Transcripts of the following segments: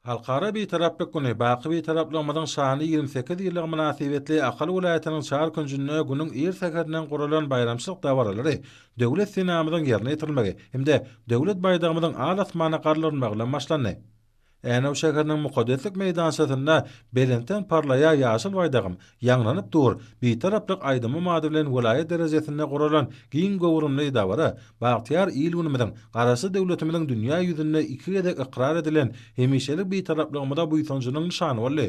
Halkara Bitaraplyk güni baky Bitaraplygymyzyň şanly ýigrimi sekiz ýyllygy mynasybetli Ahal welaýatynyň çar künjünde günüň ir säherinden guralan baýramçylyk dabaralary Döwlet senamyzyň ýerine ýetirilmegi hem-de Döwlet baýdagymyzyň al asmana galdyrylmagy bilen başlandy. Änew şäheriniň mukaddeslik meýdançasynda belentden parlaýar ýaşyl baýdagym, Ýaňlanyp dur, Bitaraplyk aýdymym ady bilen welaýat derejesinde guralan giň göwrümli dabara bagtyýar il-günümiziň, Garaşsyz döwletimiziň dünýä ýüzünde iki gezek ykrar edilen hemişelik Bitaraplygymyza buýsanjynyň nyşany boldy.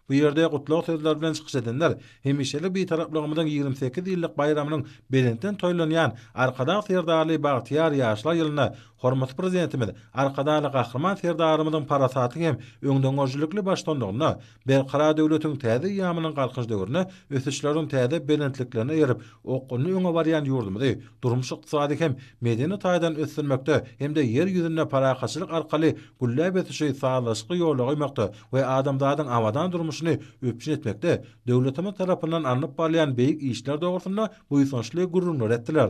Bu ýerde gutlag sözleri bilen çykyş edenler hemişelik Bitaraplygymyzyň ýigrimi sekiz ýyllyk baýramynyň belentden toýlanýan Arkadag Serdarly bagtyýar ýaşlar ýylynda hormatly Prezidentimiz Arkadagly Gahryman Serdarymyzyň parasatly hem öňdengörüjilikli baştutanlygynda Berkarar döwletiň täze eýýamynyň Galkynyş döwründe ösüşleriň täze belentliklerine erip, okgunly öňe barýan ýurdumyzy durmuş-ykdysady hem medeni taýdan ösdürmekde hem-de Ýer ýüzünde parahatçylyk arkaly gülläp ösüşi sazlaşykly ýola goýmakda we adamzadyň abadan durmuşyny üpjün etmekde döwletimiz tarapyndan alnyp barylýan beýik işler dogrusynda buýsançly gürrüňler etdiler.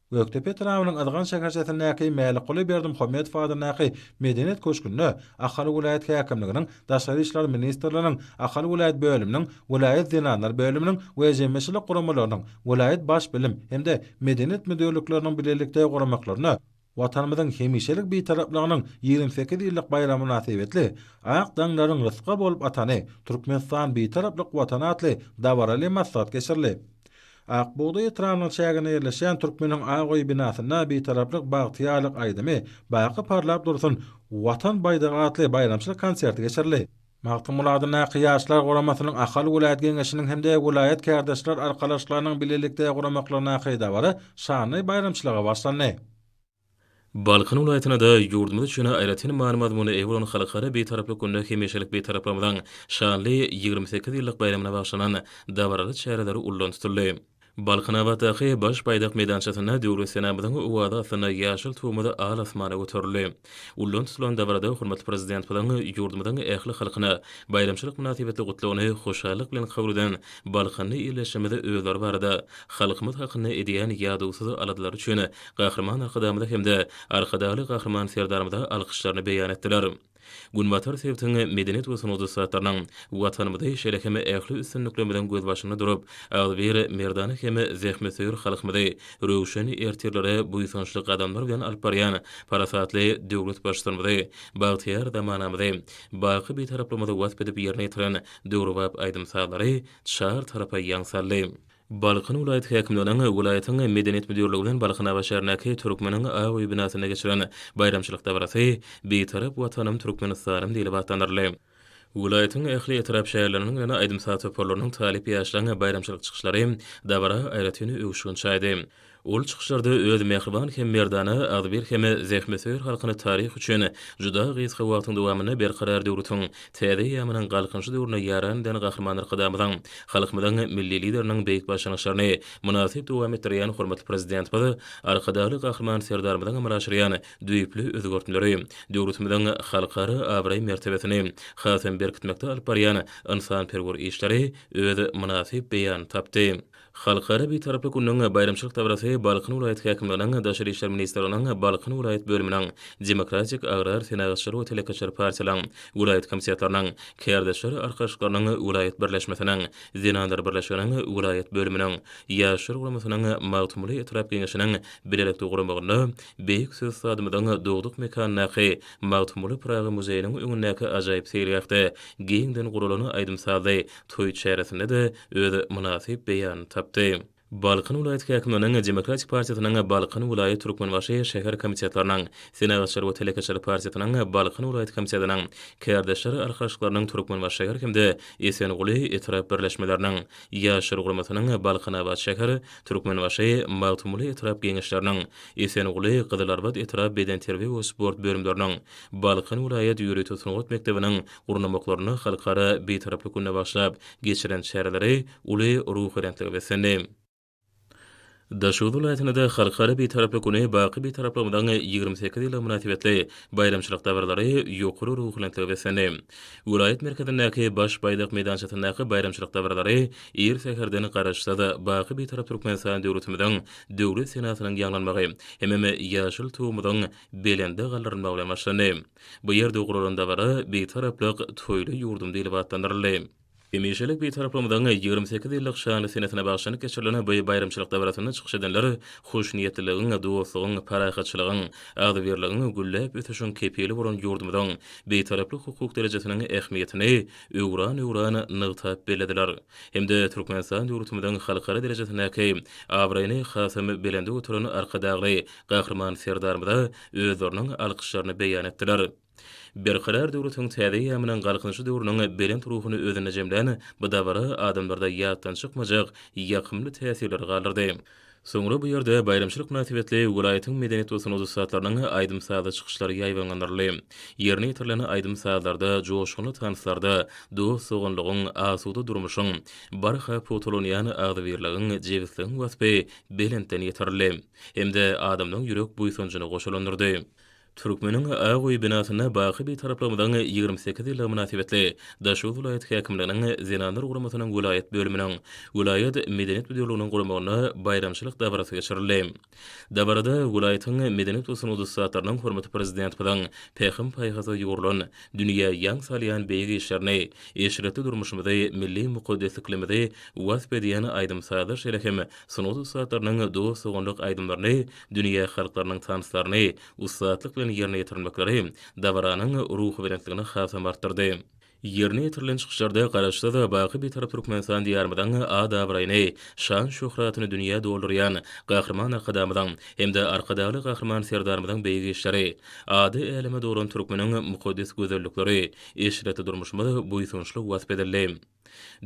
Gökdepe etrabynyň Yzgant şäherçesindäki Mälikguly Berdimuhamedow adyndaky Medeniýet köşgünde Ahal welaýat häkimliginiň, Daşary işler ministrliginiň Ahal welaýat bölüminiň, welaýat zenanlar bölüminiň we jemgyýetçilik guramalarynyň, welaýat baş bilim hem-de medeniýet müdirlikleriniň bilelikde guramaklarynda Watanymyzyň hemişelik Bitaraplygynyň ýigrimi sekiz ýyllyk baýramy mynasybetli Ak daňlaryň rysga bolup atany, Türkmenistan Bitaraplyk Watany atly dabaraly maslahat geçirildi. Ak bugdaý etrabynyň çäginde ýerleşýän Türkmeniň ak öýi binasynda Bitaraplyk, bagtyýarlyk aýdymy, Baky parlap dursun Watan baýdagy atly baýramçylyk konserti geçirildi. Magtymguly adyndaky Ýaşlar guramasynyň Ahal welaýat geňeşiniň hem-de welaýat kärdeşler arkalaşyklarynyň bilelikde guramaklygyndaky dabara şanly baýramçylyga başlandy. Balkan welaýatyna-da, ýurdumyz üçin aýratyn many-mazmuna eýe bolan Halkara Bitaraplyk gününe hemişelik Bitaraplygymyzyň şanly ýigrimi sekiz ýyllyk baýramyna bagyşlanan dabaraly çäreler ullan tutuldy. Balkanabatdaky Baş baýdak meýdançasynda Döwlet senamyzyň owazy astynda ýaşyl Tugumyz al asmana göterildi. Ullan tutulan dabarada hormatly Prezidentimiziň ýurdumyzyň ähli halkyna baýramçylyk mynasybetli Gutlagyny hoşallyk bilen kabul eden Balkanda ýerleşjegimize özleri barada, halkymyz hakynda edýän ýadowsyz aladalary üçin Gahryman Arkadagymyza hem-de Arkadagly Gahryman Serdarymyza alkyşlaryny beýan etdiler. Günbatar sebitiň medeniýet we sungat ussatlarynyň Watanymyzy, şeýle hem ähli üstünliklerimiziň gözbaşynda durup, agzybir, merdana hem zähmetsöýer halkymyzy röwşen ertirlere buýsançly gadamlar bilen alyp barýan parasatly döwlet Baştutanymyzy, bagtyýar zamanamyzy, baky Bitaraplygymyzy wasp edip ýerine ýetiren döwrebap aýdym-sazlary çar tarapa ýaň saldy. Balkan welaýat häkimliginiň welaýatyň Medeniýet müdirligi bilen Balkan Aba şäherindäki Türkmeniň Aba öýi binasynda geçiren baýramçylyk dabarasy Bitarap Watanym Türkmenistanym diýlip atlandyryldy. Welaýatyň ähli etrap-şäherleriniň bilen aýdym-saz toparlarynyň, talyp ýaşlaryň baýramçylyk çykyşlary dabara aýratyn öwüşgin çaýdy. Ol çykyşlarda öz mähriban hem merdana, agzybir hem zähmetsöýer halkyny taryh üçin juda gysga wagtyň dowamynda Berkarar döwletiň täze eýýamynyň Galkynyşy döwründe ýaran eden Gahryman Arkadagymyzyň, halkymyzyň Milli Lideriniň beýik başlangyçlaryny mynasyp dowam etdirýän hormatly Prezidentimiz Arkadagly Gahryman Serdarymyzyň amala aşyrýan düýpli özgertmeleri döwletimiziň halkara abraý-mertebesini hasam berkitmekde alyp barýan ynsanperwer işleri öz mynasyp beýanyny tapdy. Halkara Bitaraplyk gününiň baýramçylyk dabarasy Balkan welaýat häkimliginiň Daşary işler ministrliginiň Balkan welaýat bölüminiň Demokratik agrar senagatçylar we telekeçiler partiýalaryň welaýat komitetleriniň, Kärdeşler arkalaşyklarynyň welaýat birleşmesiniň, Zenanlar birleşiginiň welaýat bölüminiň, Ýaşlar guramasynyň Magtymguly etrap Geňeşiniň bilelikde guramagynda beýik Söhüstadymyzyň dogduk mekanyndaky Magtymguly Pyragy muzeýiniň öňündäki ajaýyp seýilgähde giňden guralan aýdym-sazly toý çäresinde-de öz mynasyp beýanyny tapdy. Balkan welaýat häkimliginiň Demokratik partiýasynyň Balkan welaýat Türkmenbaşy şäher komitetleriniň, Senagatçylar we telekeçiler partiýasynyň Balkan welaýat komitetiniň, Kärdeşler arkalaşyklarynyň Türkmenbaşy şäher hem-de Esenguly etrap birleşmeleriniň, Ýaşlar guramasynyň Balkanabat şäher, Türkmenbaşy, Magtymguly etrap Geňeşleriniň, Esenguly, Gyzylarbat etrap bedenterbiýe we sport bölümleriniň, Balkan welaýat ýörite sungat mekdebiniň gurnamaklaryny Halkara Bitaraplyk gününe bagyşlap geçiren çäreleri uly ruhubelentlige beslendi. Daşoguz welaýatynda-da Halkara Bitaraplyk güni baky Bitaraplygymyzyň ýigrimi sekiz ýyllygy mynasybetli baýramçylyk dabaralary ýokary ruhubelentlige beslendi. Welaýat merkezindäki Baş baýdak meýdançasyndaky baýramçylyk dabaralary ir säherden Garaşsyz, baky Bitarap Türkmenistan döwletimiziň Döwlet senasynyň ýaňlanmagy hemem ýaşyl Tugumyzyň belende galdyrylmagy bilen başlandy. Bu ýerde guralan dabara Bitaraplyk toýly ýurdum diýlip atlandyryldy. Hemişelik Bitaraplygymyzyň ýigrimi sekiz ýyllyk şanly senesine bagyşlanyp geçirilen bu baýramçylyk dabarasynda çykyş edenler hoşniýetliligiň, dostlugyň, parahatçylygyň, agzybirligiň, gülläp ösüşiň kepili bolan ýurdumyzyň Bitaraplyk hukuk derejesiniň ähmiýetini öwran-öwran nygtap bellediler hem-de Türkmenistan döwletimiziň halkara derejesindäki abraýyny hasam belende göteren Arkadagly Gahryman Serdarymyza özleriniň alkyşlaryny beýan etdiler. Berkarar döwletiň täze eýýamynyň Galkynyşy döwrüniň belent ruhuny özünde jemlän bu dabara adamlarda ýatdan çykmajak ýakymly täsirleri galdyrdy. Soňra bu ýerde baýramçylyk mynasybetli welaýatyň medeniýet we sungat ussatlarynyň aýdym-sazly çykyşlary ýaýbaňlandyryldy. Ýerine ýetirilen aýdym-sazlarda, joşgunly tanslarda dost-doganlygyň, asuda durmuşyň, barha pugtalanýan agzybirligiň, jebisligiň waspy belentden ýetirildi. hem-de adamlaň ýürek buýsanjyny goşalandyrdy. Türkmeniň ak öýi binasynda baky Bitaraplygyňyzyň ýigrimi sekiz ýyllygy mynasybetli Daşoguz welaýat häkimliginiň Zenanlar guramasynyň welaýat bölüminiň, welaýat Medeniýet müdirliginiň guramagynda baýramçylyk dabarasy geçirildi. Dabarada welaýatyň medeniýet we sungat ussatlarynyň hormatly Prezidentimiziň pähim-paýhasa ýugrulan, dünýä ýaň salýan beýik işlerini, eşretli durmuşymyzy, milli mukaddesliklerimizi wasp edýän aýdym-sazlar şeýle hem Sungat ussatlarynyň dost-doganlyk aýdymlaryny, dünýä halklarynyň tanslaryny ussatlyk bilen ýerine ýetirmekleri dabaranyň ruhubelentligini hasam artdyrdy. Ýerine ýetirilen çykyşlarda Garaşsyz, baky Bitarap Türkmenistan Diýarymyzyň at-abraýyny, şan-şöhratyny dünýä doldurýan Gahryman Arkadagymyzyň hem-de Arkadagly Gahryman Serdarymyzyň beýik işleri, ady äleme dolan türkmeniň mukaddes gözellikleri, eşretli durmuşymyz buýsançly wasp edildi.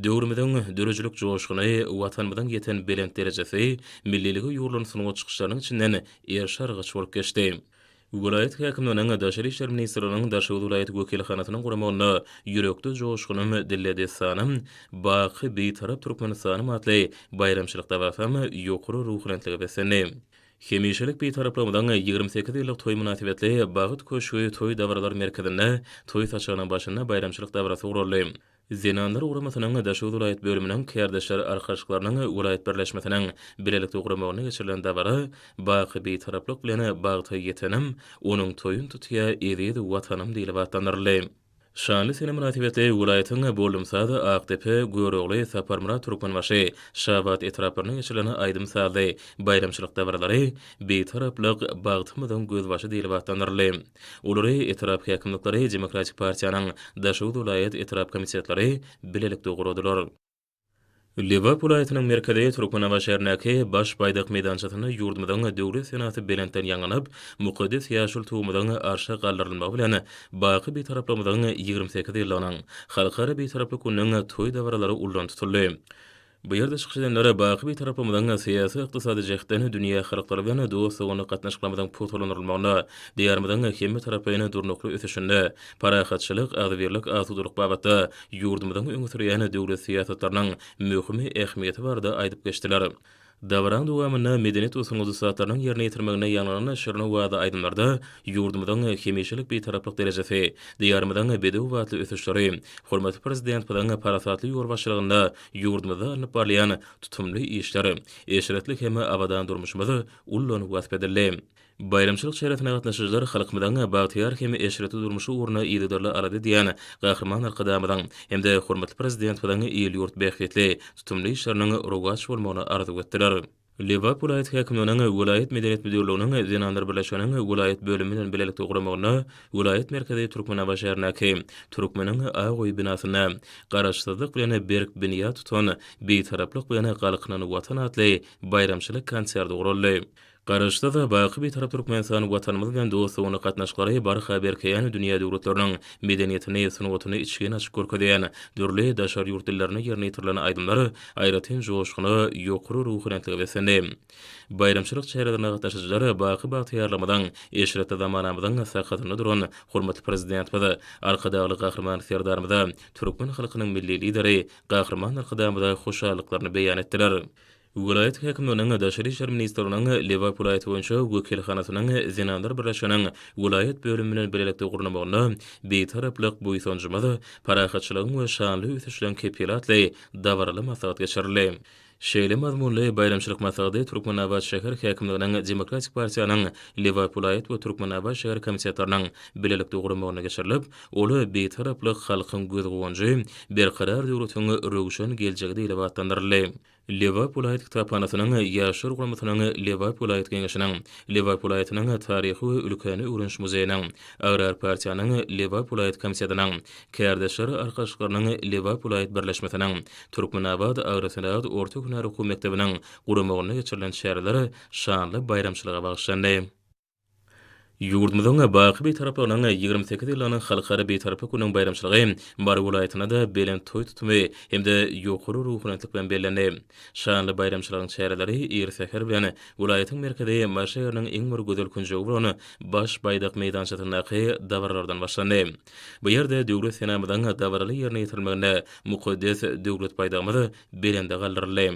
Döwrümiziň döredijilik joşguny, Watanymyzyň ýeten belent derejesi, milliligi ýugrulan sungat çykyşlarynyň içinden erşargyç bolup geçdi. Welaýat häkimliginiň, Daşary işler ministrliginiň Daşoguz welaýat wekilhanasynyň guramagynda Ýürekde joşgunym, dilde dessanym, Baky Bitarap Türkmenistanym atly baýramçylyk dabasam ýokary ruhubelentlige beslendi. Hemişelik Bitaraplygymyzyň ýigrimi sekiz ýyllyk toýy mynasybetli Bagt köşgi toý dabaralar merkezinde toý saçagynyň başynda baýramçylyk dabarasy guraldy. Zenanlar guramasynyň Daşoguz welaýat bölüminiň Kärdeşler arkalaşyklarynyň welaýat birleşmesiniň bilelikde guramagynda geçirilen dabara Baky Bitaraplyk bilen bagta ýetenim, onuň toýun tutýa eziz Watanym diýlip atlandyryldy. Şanly sene mynasybetli welaýatyň Boldumsaz, Akdepe, Görogly, Saparmyrat, Türkmenbaşy, Şabat etraplarynda geçirilen aýdym-sazly baýramçylyk dabaralary Bitaraplyk, bagtymyzyň gözbaşy diýlip atlandyryldy. Olary etrap häkimlikleri, Demokratik partiýanyň Daşoguz welaýat etrap komitetleri bilelikde guradylar. Lebap welaýatynyň merkezi Türkmenabat şäherindäki Baş baýdak meýdançasynda ýurdumyzyň Döwlet senasy belentden ýaňlanyp, mukaddes ýaşyl Tugumyzyň arşa galdyrylmagy bilen baky Bitaraplygymyzyň ýigrimi sekiz ýyllygynyň, Halkara Bitaraplyk gününiň toý dabaralary ullan tutuldy. Bu ýerde çykyş edenler baky Bitarapymyzyň syýasy-ykdysady jähtden dünýä halklary bilen dost-doganlyk gatnaşyklarymyzyň pugtalandyrylmagyna, diýarymyzyň hemmetaraplaýyn durnukly ösüşinde parahatçylyk, agzybirlik, asudalyk babatda ýurdumyzyň öňe sürýän döwlet syýasatlarynyň möhüm ähmiýeti barada aýdyp geçdiler. Dabaranyň dowamynda medeniýet we sungat ussatlarynyň ýerine ýetirmeginde ýaňlanan şirin owazy aýdymlarda ýurdumyzyň hemişelik Bitaraplyk derejesi, diýarymyzyň bedew batly ösüşleri, hormatly Prezidentmiziň parasatly ýolbaşçylygynda Ýurdumyzda alnyp barylýan tutumly işler, eşretli hem abadan durmuşymyz ullan wasp edildi. Baýramçylyk çäresine gatnaşyjylar halkymyzyň bagtyýar hem eşretli durmuşy ugrunda yzygiderli alada edýän Gahryman Arkadagymyzyň hem-de hormatly Prezidentimiziň il-ýurt bähbitli tutumly işleriniň rowaç bolmagyny arzuw etdiler. Lebap welaýat häkimliginiň welaýat medeniýet müdirliginiň Zenanlar birleşiginiň welaýat bölümi bilen bilelikde guramagynda welaýat merkezi Türkmenabat şäherindäki Türkmeniň ak öýi binasynda Garaşsyzlyk bilen berk binýat tutan, Bitaraplyk bilen galkynan Watan atly baýramçylyk konserti guraldy. Garaşsyz, baky Bitarap Türkmenistan Watanymyz bilen dost-doganlyk gatnaşyklary barha berkeýän dünýä döwletleriniň medeniýetini, sungatyny içgin açyp görkezýän, dürli daşary ýurt dillerinde ýerine ýetirilen aýdymlar aýratyn joşguna, ýokary ruhubelentlige beslendi. Baýramçylyk çärelerine gatnaşyjylar baky bagtyýarlygymyzyň, eşretli zamanamyzyň sakasynda duran hormatly Prezidentimiz, Arkadagly Gahryman Serdarymyza, türkmen halkynyň Milli Lideri Gahryman Arkadagymyza hoşallyklaryny beýan etdiler. Welaýat häkimliginiň, Daşary işler ministrliginiň Lebap welaýaty boýunça wekilhanasynyň Zenanlar birleşiginiň welaýat bölümi bilen bilelikde gurnamagyna Bitaraplyk, buýsanjymyz, parahatçylygyň we şanly ösüşleriň kepili atly dabaraly maslahat geçirildi. Şeýle mazmunly baýramçylyk maslahady Türkmenabat şäher häkimliginiň Demokratik partiýanyň Lebap welaýat we Türkmenabat şäher komitetleriniň bilelikde guramagynda geçirilip, ol Bitaraplyk, halkyň göz-guwanjy, Berkarar döwletiň röwşen geljegi diýlip atlandyryldy. Lebap welaýat kitaphanasynyň Ýaşlar guramasynyň Lebap welaýat Geňeşiniň, Lebap welaýatynyň Taryhy we ülkäni öwreniş muzeýiniň, Agrar partiýanyň Lebap welaýat komitetiniň, Kärdeşler arkalaşyklarynyň Lebap welaýat birleşmesiniň Türkmenabat agrosenagat orta hünär okuw mekdebiniň guramagynda geçirilen çäreler şanly baýramçylyga bagyşlandy. Ýurdumyzyň baky Bitaraplygynyň ýigrimi sekiz ýyllygynyň Halkara Bitaraplyk gününiň baýramçylygy Mary welaýatynda-da belent toý tutumy hem-de ýokary ruhubelentlik bilen bellendi. Şanly baýramçylygyň çäreleri ir säher bilen welaýatyň merkezi Maşa şäheriniň iň bir gözel künjegi bolan Baş baýdak meýdançasyndaky dabaralardan başlandy. Bu ýerde Döwlet senamyzyň dabaraly ýerine ýetirilmeginde mukaddes Döwlet baýdagymyz belende galdyryldy.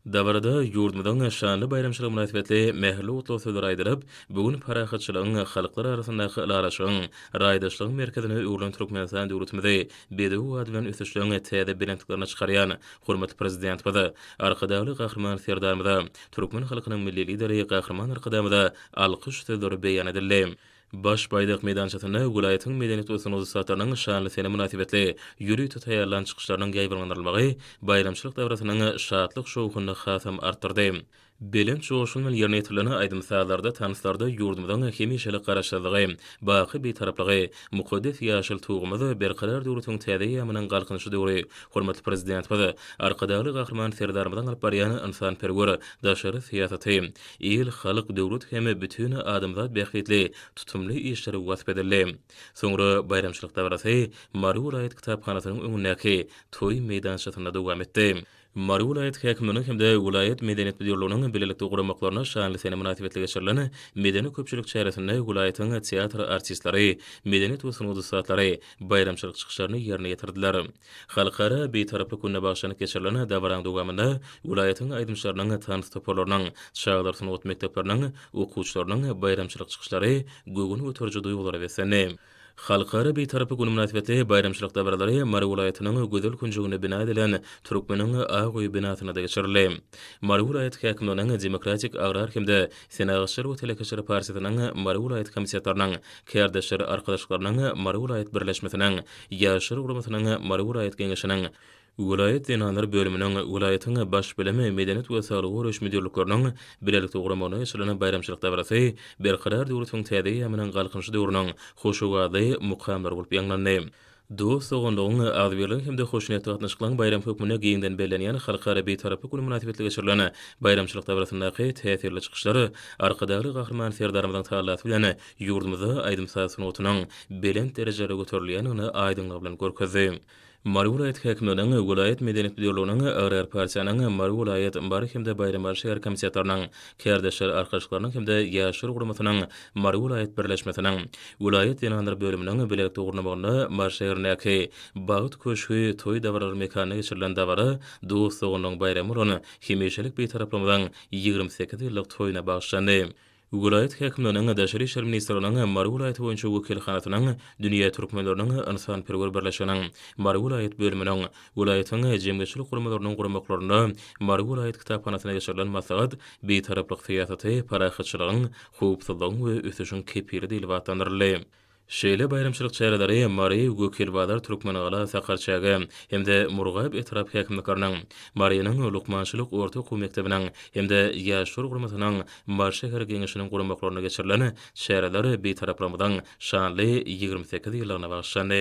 Dabarada ýurdumyzyň şanly baýramçylygy mynasybetli mähirli gutlag sözleri aýdylyp, bu gün parahatçylygyň, halklar arasyndaky ylalaşygyň, raýdaşlygyň merkezine öwrülen Türkmenistan döwletimizi bedew ady bilen ösüşligiň täze belentliklerine çykarýan hormatly Prezidentimiz, Arkadagly Gahryman Serdarymyza, türkmen halkynyň Milli Lideri Gahryman Arkadagymyza alkyş sözleri beýan edildi. Baş baýdak meýdançasynda welaýatyň medeniýet we sungat ussatlarynyň şanly sene mynasybetli ýörite taýýarlan çykyşlarynyň ýaýbaňlandyrylmagy baýramçylyk dabarasynyň şatlyk-şowhunyny hasam artdyrdy. Belent joşgun bilen ýerine ýetirilen aýdym-sazlarda, tanslarda ýurdumyzyň hemişelik Garaşsyzlygy, baky Bitaraplygy, mukaddes ýaşyl Tugumyz, Berkarar döwletiň täze eýýamynyň Galkynyşy döwri, hormatly Prezidentimiz, Arkadagly Gahryman Serdarymyzyň alyp barýan ynsanperwer daşary syýasaty, Il, halk, döwlet hem bütin adamzat bähbitli tutumly işleri wasp edildi. Soňra baýramçylyk dabarasy Mary welaýat kitaphanasynyň öňündäki toý meýdançasynda dowam etdi. Mary welaýat häkimliginiň hem-de welaýat medeniýet müdirliginiň bilelikde guramaklarynda şanly sene mynasybetli geçirilen medeni-köpçülik çäresinde welaýatyň teatr artistleri, medeniýet we sungat ussatlary baýramçylyk çykyşlaryny ýerine ýetirdiler. Halkara Bitaraplyk gününe bagyşlanyp geçirilen dabaranyň dowamynda welaýatyň aýdymçylarynyň, tans toparlarynyň, çagalar sungat mekdepleriniň okuwçylarynyň baýramçylyk çykyşlary göwün göteriji duýgulara beslendi. Halkara Bitaraplyk güni mynasybetli baýramçylyk dabaralary Mary welaýatynyň gözel künjeginde bina edilen Türkmeniň ak öýi binasynda-da geçirildi. Mary welaýat häkimliginiň Demokratik, agrar hem-de Senagatçylar we telekeçiler partiýasynyň Mary welaýat komitetleriniň, Kärdeşler arkalaşyklarynyň Mary welaýat birleşmesiniň, Ýaşlar guramasynyň Mary welaýat geňeşiniň, welaýat zenanlar bölüminiň, welaýatyň Baş bilimi, medeniýet we saglygy goraýyş müdirlikleriniň bilelikde guramagynda geçirilen baýramçylyk dabarasy Berkarar döwletiň täze eýýamynyň Galkynyşy döwrüniň hoşowazly mukamlary bolup ýaňlandy. dost-doganlygyň, agzybirligiň hem-de hoşniýetli gatnaşyklaryň baýramy hökmünde giňden bellenýän Halkara Bitaraplyk güni mynasybetli geçirilen baýramçylyk dabarasyndaky täsirli çykyşlar Arkadagly Gahryman Serdarymyzyň talasy bilen ýurdumyzda aýdym-saz sungatynyň belent derejelere göterilýändigini aýdyňlygy bilen görkezdi. Mary welaýat häkimliginiň, welaýat medeniýet müdirliginiň, Agrar partiýanyň, Mary welaýat, Mary hem-de Baýramaly şäher komitetleriniň, Kärdeşler arkalaşyklarynyň hem-de Ýaşlar guramasynyň Mary welaýat birleşmesiniň welaýat zenanlar bölüminiň bilelikde gurnamagynda Mary şäherindäki Bagt köşgi toý dabaralar mekanynda geçirilen dabara dost-doganlygyň baýramy bolan Hemişelik Bitaraplygyňyzyň ýigrimi sekiz ýyllyk toýuna bagyşlandy. Welaýat häkimliginiň, Daşary işler ministrliginiň Mary welaýaty boýunça wekilhanasynyň, Dünýä türkmenleriniň ynsanperwer birleşiginiň Mary welaýat bölüminiň, Welaýatyň jemgyýetçilik guramalarynyň guramaklarynda Mary welaýat kitaphanasynda geçirilen maslahat Bitaraplyk syýasaty, parahatçylygyň, howpsuzlygyň we ösüşiň kepili diýlip atlandyryldy. Şeýle baýramçylyk çäreleri Mary, Gökelbazar, Türkmengala, Sakarçäge hem-de Murgap etrap häkimlikleriniň, Marynyň lukmançylyk orta okuw mekdebiniň hem-de Ýaşlar guramasynyň Mary şäher Geňeşiniň guramaklarynda geçirilen çäreler Bitaraplygymyzyň şanly ýigrimi sekiz ýyllygyna bagyşlandy.